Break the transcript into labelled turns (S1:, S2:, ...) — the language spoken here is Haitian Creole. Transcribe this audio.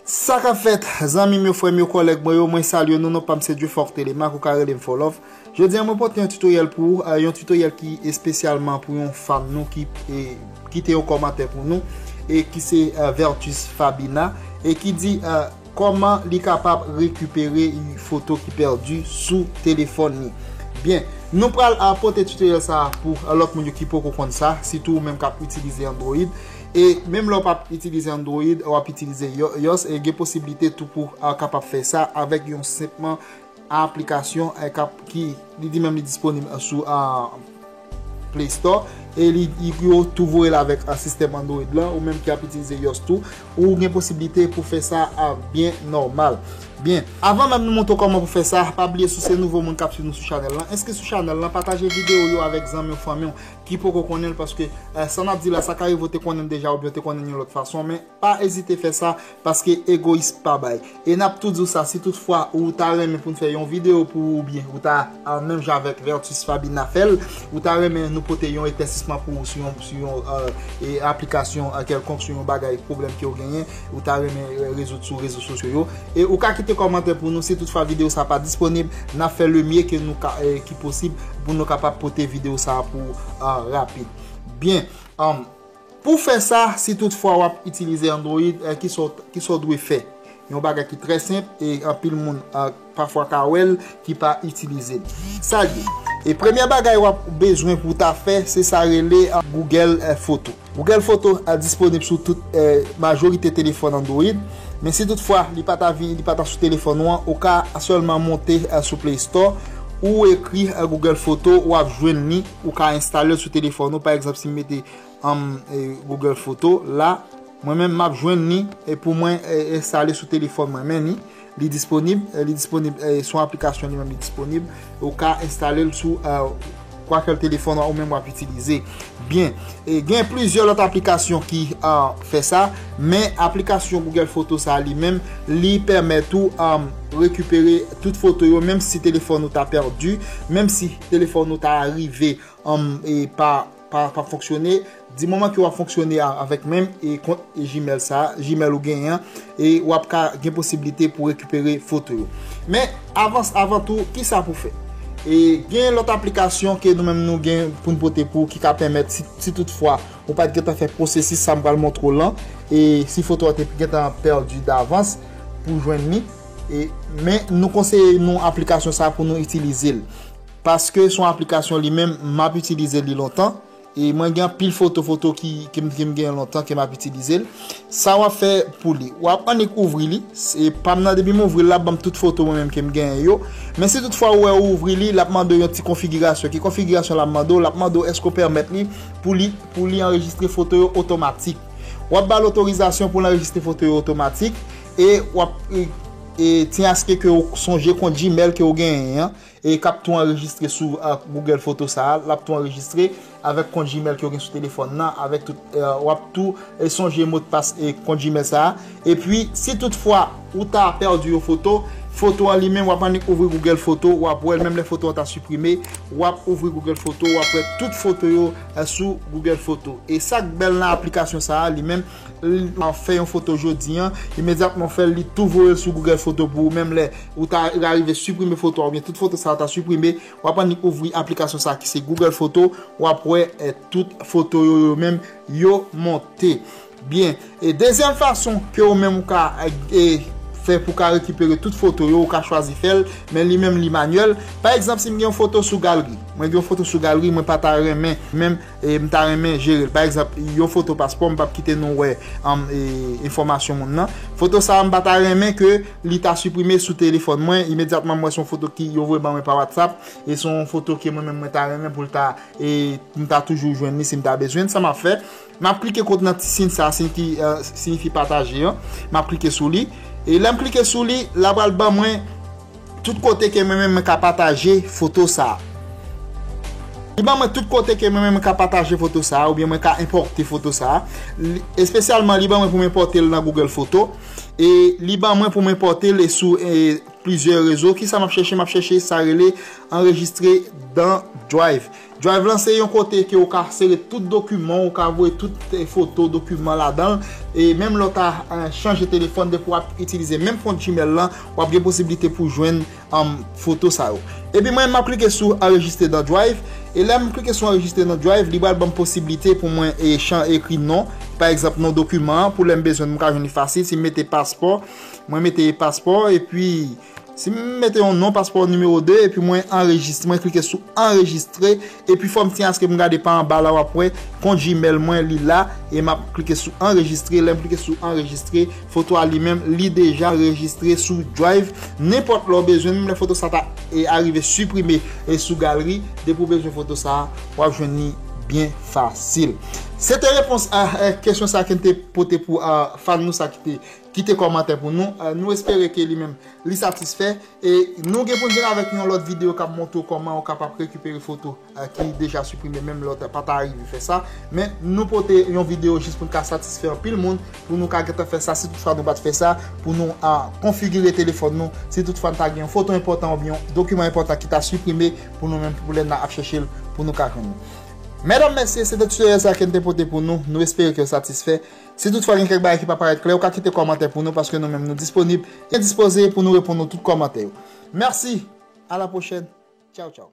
S1: Sa kap fèt, zanmim yo, frèm yo, kòlèg mwen yo, mwen salye nou, non pam se Dufort Thélémaque, ou ka relem Fòlòv. Jodi an mwen pote yon tutoriel pou ou, yon tutoriel ki espesyalman pou yon fam nou ki kite yon kòmantè pou nou, e ki se Vertus Fabina, e ki di... Kòman li kapab rekipere ui foto ki pèdi sou telefòn li byen nou pral pote tutoriel sa pou lòt moun yo ki poko konn sa sitou ou menm kap itilize android e menm lè ou pap itilize android wap itilize ios e gen posiblite tou pou kapab fè sa avèk yon senpman Aplikasyon kap ki li di menm li disponib sou Play Store e li yo tou voye l avèk sistèm Android lan ou menm ki ap itilize iOS tou ou gen posiblite pou fè sa byen nòmal. Byen, avan menm nou montre w kòman pou fè sa, pa bliye si w se nouvo moun kap swiv nou sou chanèl lan, enskri sou chanèl lan, pataje videyo yo avèk zanmi w, fanmi w ki poko konnen l paske sa nap di la sa ka rive w te konnen l deja oubyen w te konnen l yon lòt fason men Pa ezite fè sa, paske egoyis pa bay. E n ap tou di w sa, si tout fwa ou ta renmen pou n fè yon videyo pou ou oubyen ou ta menm jan avèk Vertus Fabina fè l, ou ta renmen nou pote yon eklèsisman pou ou sou yon sou yon aplikasyon kèlkonk, sou yon bagay pwoblèm ke w genyen, ou ta renmen rezoud sou rezo sosyo yo. E ou ka kite kòmantè pou nou si tout fwa videyo sa pa disponib, n ap fè le mye ke nou ka ki posib pou nou kapab pote videyo sa pou ou rapid. Byen. Pou w fè sa, si tout fwa w ap itilize Android, ki sa w dwe fè? Yon bagay ki trè senp e anpil moun pafwa ka wè l ki pa itilize l. Sa l ye? E premyè bagay w ap bezwen pou w ta fè, se sa rele Google Foto. Google Foto disponib sou tout majorite telefòn Android, men si tout fwa li pa ta vin, li pa ta sou telefòn ou an, ou ka sèlman monte sou Play Store, ou ekri Google Foto, w ap jwenn li ou ka enstale sou telefon ou pa egzanp si m mete am google photo la mwen menm map jwenn ni e pou mwen enstale sou telefon mwen men ni li disponib li disponib sou aplikasyon li menm li disponib ou ka enstale l sou kwa kel telefon ou menm wap itilize byen e gen plizye lot aplikasyon ki an fe sa men aplikasyon google photo sa li menm li pemet ou am rekipere tout foto yo menm si telefon ou ta perdi menm si telefòn ou ta rive pa fonksyone, di moman ki wap fonksyone avèk menm e kont Gmail sa, Gmail ou gen an, e wap ka gen posibilite pou rekupere foto yo. Men, avans avan tou, ki sa pou fè? E gen lòt aplikasyon ke nou menm nou gen pou nou pote pou ki ka pèmèt si tout fwa ou pat gen tan fè pwosesis sa m pral montre w lan e si foto a te gen tan pèdi davans pou jwenn ni. Men nou konseye nou aplikasyon sa pou nou itilize l. Paske son aplikasyon li menm m ap itilize li lontan. E mwen gen anpil foto foto ki m gen lontan ke m ap itilize l. Sa w ap fè pou li. W ap annik ouvri li. E pa m nan depi m ouvri l la ap ban m tout foto mwen menm ke m gen yo. Men si tout fwa ou wè ou ouvri li, l ap mande w yon ti konfigirasyon. Ki konfigirasyon l ap mande w? L ap mande w eske ou pèmèt li pou li anrejistre foto yo otomatik. W ap ba l otorizasyon pou l anrejistre foto yo otomatik. E wap e ti aske ke ou sonje kont Gmail ke ou genyen an e kap tou anrejistre sou Google Photo sa a, lap tou anrejistre avèk kont Gmail ke ou gen sou telefòn nan, avèk tout, wap tou e sonje modpas e kont Gmail sa a. E pi, si tout fwa ou ta pèdi yon foto, foto an li menm wap annik ouvri Google Photo, wap wèl menm lè foto an ta siprime, wap ouvri Google Photo, wap wè tout foto yo sou Google Photo. E sak bèl nan aplikasyon sa a li menm, Fè yon foto jodi an, imedyatman ou fè l, li tou voye l sou Google Photo pou ou, menm lè ou ta arive siprime foto a oubyen tout foto sa yo ta siprime, w ap annik ouvri aplikasyon sa ki se Google Photo, w ap wè tout foto yo yo menm yo monte. Byen, e dezyèm fason ke ou menm ou ka fè pou ka rekipere tout foto yo, ou ka chwazi fè l, men li menm li manyèl. Pa egzanp si m gen yon foto sou galri, mwen gen yon foto sou galri mwen pa ta renmen menm E m ta renmen jere l. Pa egzanp, yon foto paspò, m pap kite nou wè enfòmasyon moun nan. Foto sa a, m pa ta renmen ke li ta siprime sou telefòn mwen. Imedyatman m wè se yon foto ki yo voye ban mwen pa WhatsApp, e se yon foto ke mwen menm mwen ta renmen pou l ta, e m ta toujou jwenn li si m ta bezwen l. Sa m ap fè, m ap klike kont nan ti siy sa a, siy ki siyifi pataje an. M ap klike sou li. E lè m klike sou li, la pral ban mwen. Tout kote ke mwen menm mwen ka pataje foto sa a. Li ban mwen tout kote ke mwen menm mwen ka pataje foto sa a oubyen mwen ka enpòte foto sa a. Espesyalman li ban mwen pou m enpòte l nan Google Foto e li ban mwen pou m enpòte l sou plizyè rezo. Kisa m ap chèche? M ap chèche sa rele anrejistre dan Drive. Drive lan se yon kote ke ou ka sere tout dokiman, ou ka voye tout foto, dokiman ladan l, e menm lè w ta chanje telefòn depi w ap itilize menm kont Gmail lan, w ap gen posiblite pou jwenn foto sa yo. Epi mwen m ap klike sou Enregistre dans Drive, e lè m klike sou Enregistre dans Drive, li pral ban m posiblite pou mwen ekri non, pa egzanp non dokiman an, pou lè m bezwen l m ka jwenn li fasil, si m mete paspò, mwen mete paspò, epi. Si m mete yon non paspò nimewo 2 epi mwen anrejis mwen klike sou anrejistre epi fòm siy aske m gade pa anba la wap wè kont gmail mwen li la e map klike sou anrejistre lèm klike sou anrejistre foto a li menm li deja rejistre sou drive nenpòt lè w bezwen menm lè foto sa ta e arive siprime e sou galri depi w bezwen foto sa wap jwenn li byen fasil se te repons a kesyon sa ke n te pote pou a fan nou sa ki te Kite kòmantè pou nou, nou espere ke li menm li satisfè e nou gen pou n vin avèk yon lòt videyo kap montre w kòman ou kapab rekipere foto ki deja siprime menm lè w pa ta rive fè sa men nou pote yon videyo jis pou n ka satisfè anpil moun pou nou ka gentan fè sa si tout fwa nou pat fè sa pou nou konfigire telefòn nou si tout fwa n ta gen yon foto enpòtan oubyen yon dokiman enpòtan ki ta siprime pou nou menm pou lè n ap chèche l pou nou ka jwenn li. Mèdam mèsye se te tutoriel sa ke n te pote pou nou, nou espere ke w satisfè. Si toutfwa gen kèk bagay ki pa parèt klè, ou ka kite kòmantè pou nou paske nou menm nou disponib e dispoze pou nou reponn ou tout kòmantè yo. Mèsi! A la pwochèn! Tchaw tchaw!